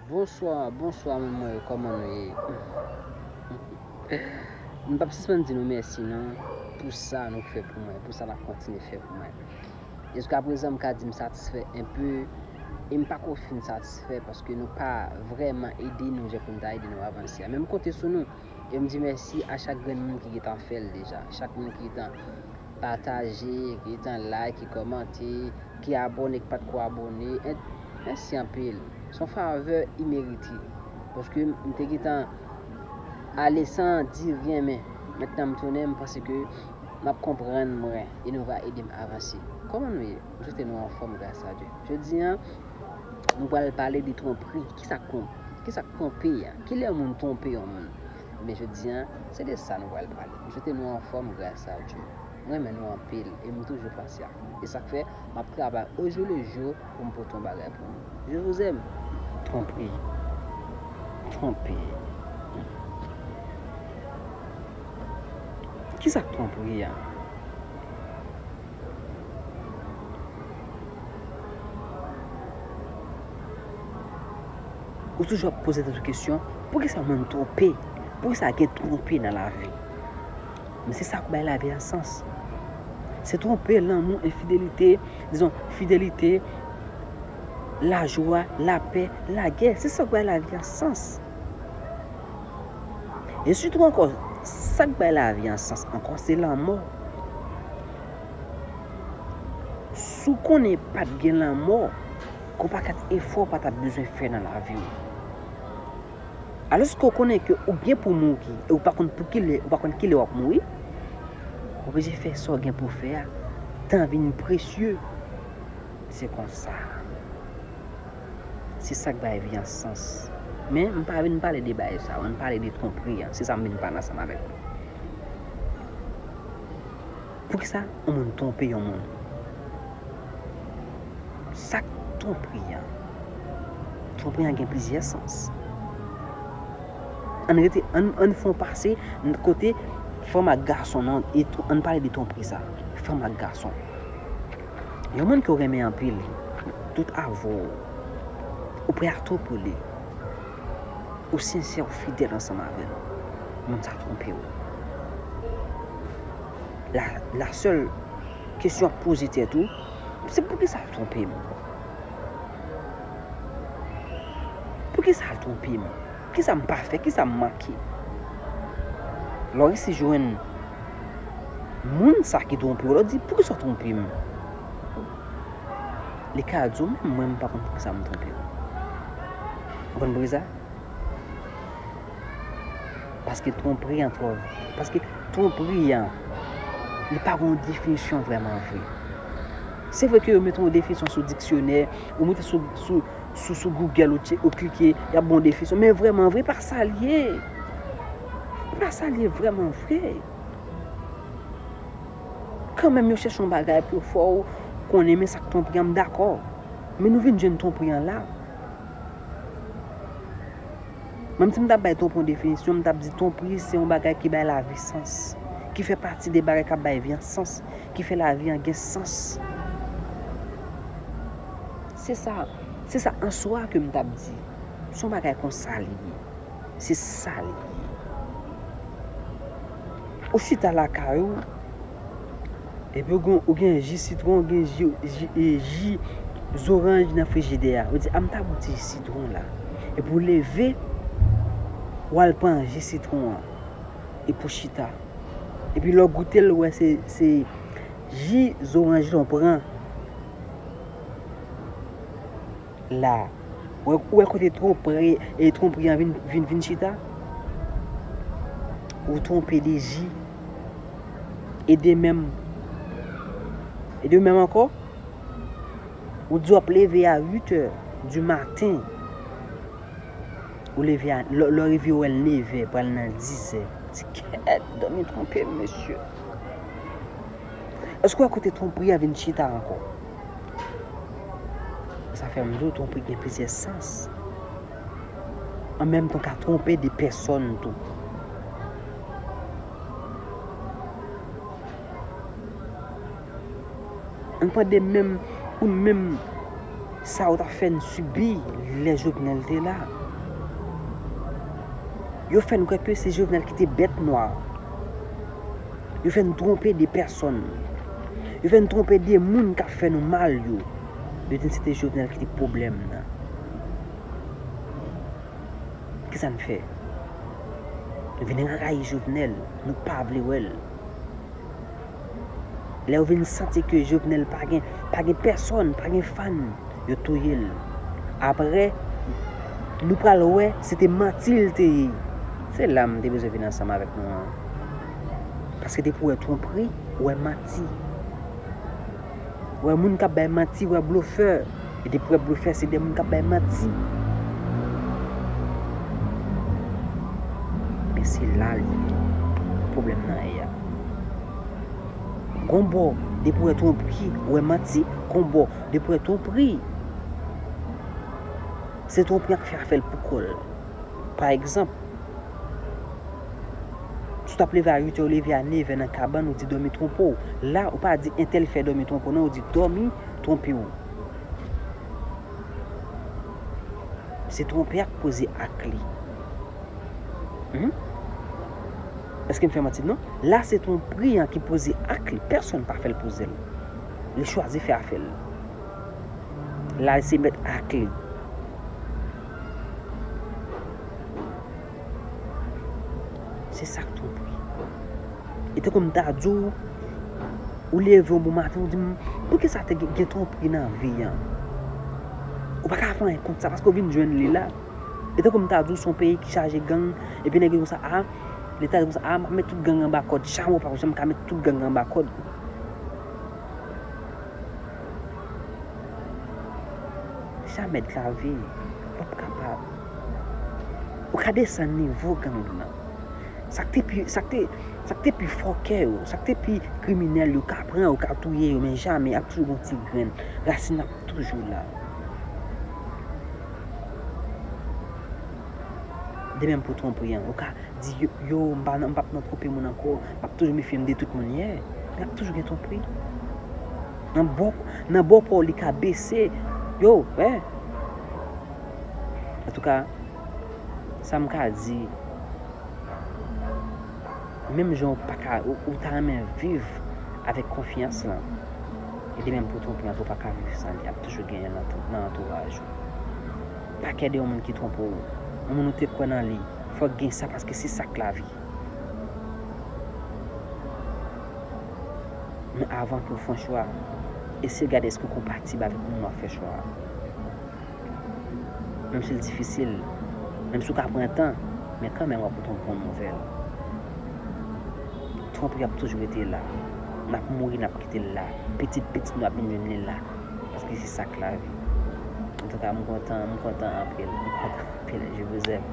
Bonswa bonswa moun mwen yo kòman nou ye M pap sispann di nou mèsi nan pou sa nou fè pou mwen pou sa nap kontinye fè pou mwen. Jiska prezan m ka di m satisfè enpe e m pako fin satisfè paske nou pa vrèman ede nou jan pou n ta ede nou avanse a. Men m konte sou nou e m di mèsi a chak grenn moun ki gentan fè l deja. Chak moun ki gentan pataje, ki gentan like, ki kòmante, ki abòne, ki pat ko abòne et mèsi anpil. Se yon favè imerite paske m te gentan ale san di ryen men mètnan m tounen m panse ke. Map konprann mwen e nou va edem avanse. Koman nou ye? M swete nou anfom gras a Dye. Jodi an nou pral pale de twonpri. Kisa k Kisa k twonpe a? Kilè yon moun twonpe yon moun? Ebyen jodi an se de sa nou pral pale. M swete nou anfom gras a Dye. M renmen nou anpil e m toujou pasyan. E sak fè map travay ojou le jou. Poum pote yon bagay pou nou. Je vous aime. Tanpri. Tanpri. Kisa k tanpri a? Ou toujou ap poze tèt ou kesyon, poukisa moun twonpe? Poukisa gen twonpe nan lavi? Men se sa k bay lavi a sans. Se twonpe, lanmou, enfidelite, dizon, fidelite, lajwa, lapè, lagè. Se sa k bay lavi a sans. E sitou ankò, sa k bay lavi a sans ankò, se lanmò. Si w konnen pa t gen lanmò, gen yon pakèt efò w pa t ap bezwen fè nan lavi w. Alòske ou konnen ke ou gen pou mouri e ou pa konn pou ki lè, ou pa konn ki lè wap mouri, ou oblije fè sa w gen pou w fè a. Tan vin presye. Se konsa. Se sak bay vi an sans. Men, m pa vin pale de bagay sa yo. M pale de twonpri an. Se sa m vin pale ansanm avèk nou. Poukisa yon moun twonpe yon moun? Sa k twonpri a? Twonpri a gen plizyè sans. Ann rete, ann, ann fè yon pase nan kote fanm ak gason nan, e tw, ann pale de twonpri sa a. Fanm ak gason. Yon moun ke w renmen anpil, tout avè w, ou prè a tou pou li. Ou sensè ou fidèl ansanm avè l. Moun sa twonpe w. La la sèl kesyon w ap poze tèt ou, se poukisa l twonpe m? Poukisa l twonpe m? Kisa m pa fè? Kisa m manke? Lè w resi jwenn moun sa ki twonpe w, lè w di poukisa w twonpe m? Li ka di w menm mwen m pa konn poukisa m twonpe w. Ou konn bri sa? Paske twonpri an twò vit. Paske twonpri an, li pa gon definisyon vreman vre. Se vre ke yo mete yon definisyon sou diksyonè, ou mete sou Google ou klike, y ap bon definisyon. Men vreman vre, pa sa l ye. Pa sa l ye vreman vre. Kan menm yo chèche yon bagay pou yo fè w konnen men sa k twonpri an, m dakò. Men nou vin jwenn twonpri an la. Menm si m ta bay tonpon definisyon, m t ap di tonpri se yon bagay ki bay lavi sans, ki fè pati de bagay k ap bay vi an sans, ki fè lavi an gen sans. Se sa, se sa an swa ke m t ap di. Se yon bagay kon sa li ye. Se sa li ye. Ou chita lakay ou. Epi ou gen ou gen ji sitwon, ou gen ji ji e ji zoranj nan frijidè a. Ou di a m ta bou ti ji sitwon la. Epi ou leve, ou al pran ji sitwon an. Epi ou chita. Epi lè w goute l ou wè se se ji zoranj lan w pran. la ou wè kote twonpri e twonpri an vin vin chita ou twonpe de ji e de menm e de menm ankò ou di wap leve a 8 è di maten ou leve a lè ou rive wè l 9 è pral nan 10 è ti kèèt dòmi twonpe m mesye èske ou wè kote twonpri an vin chita ankò Sa fè m di w twonpe gen plizyè sans. An menm tan ka twonpe de pèsòn tou. An tande menm pou n menm sa yo t ap fè n sibi lè Jovenel te la. Yo fè n kwè ke se Jovenel ki te bèt nwa. Yo fè n twonpe de pèsòn. Yo fè nou twonpe de moun kap fè nou mal yo. Yo di n se te Jovenel ki te pwoblèm nan. Kisa n fè? Nou vin rayi Jovenel. Nou pa vle wè l. Lè yo vin santi ke Jovenel pa gen, pa gen pèsòn, pa gen fan, yo touye l. Aprè, nou pral wè se te manti l te ye. Se la m te bezwen vin ansanm avèk nou an. Paske depi ou wè twonpri, ou wè manti. Ou wè moun k ap bay manti, ou wè blofè. E depi ou wè blofè, se de moun k ap bay manti. Men se la l ye. Pwoblèm nan ye a. Gon bò, depi ou wè twonpri, ou wè manti. Gon bò, depi ou wè twonpri, se twonpri a k fè a fè l pou kò l. Pa egzanp, si w t ap leve a uitè, ou leve a nevè nan kabann, ou di dòmi twonpe w. La, ou pa di entèl fè dòmi twonpe w non, ou di dòmi twonpe w. Se twonpe a k poze ak li. Hum? Èske m fè manti? Non. La se twonpri an ki poze ak li. Pèsonn pa fè l poze l. Li chwazi fè afè l. Lal se met ak li. Se sak twop wi. E te konm ta di w, ou leve yon bon maten ou di m, pou ki sa te gen twop wi nan vi an? Ou pa ka fè anyen kont sa paske ou vin jwenn li la. E te konm ta di w son peyi ki chaje gang, e pi nèg yo konsa a, leta yo konsa a, m ap met tout gang anba kòd. Chamo pa janm ka met tout gang anba kòd. Jamè dlavi ou p kapab. Ou ka desann nivo gang nan. Sa k te pi, sa k te, sa k te pi fòkè yo, sa k te pi kriminèl yo ka pran, yo ka touye yo men jamè ap toujou gon ti grenn. Rasin ap toujou la. De menm pou Twonpri an. Ou ka Di yo m pa nan m pap nan twonpe moun ankò, m ap toujou mefye m de tout moun, yeah, men ap toujou gen twonpri. Nan bò, nan bò pa w li ka bese, yo, eh. Antouka, sa m ka di, menm jan w pa ka, ou ta renmen viv avèk konfyans lan, e de menm pou twonpri an tou pa ka viv san li, ap toujou genyen nan antouraj ou. Pa kè de yon moun ki twonpe w. Yon moun ou te kwè nan li. Fòk gen sa paske se sa k lavi. Men avan ke w fon chwa, eseye gade eske w konpatib avèk moun w ap fè chwa a. Menm si l difisil, menm si w ka pran tan, men kanmenm w ap pote yon bon nouvèl. Twonpri ap toujou rete la. N ap mouri n ap kite l la. Pitit pitit nou ap vin jwenn li la. paske se sak lavi antouka m kontan m kontan anpil m kontan anpil je vous aime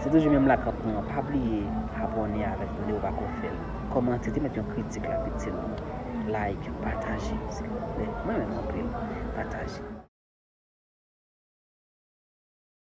se toujou menm lakap nou an pa bliye abòne avèk nou dew pako fèl kòmante ti met yon kritik la pitit nou like pataje silvouplè mwen menm anpil pataje.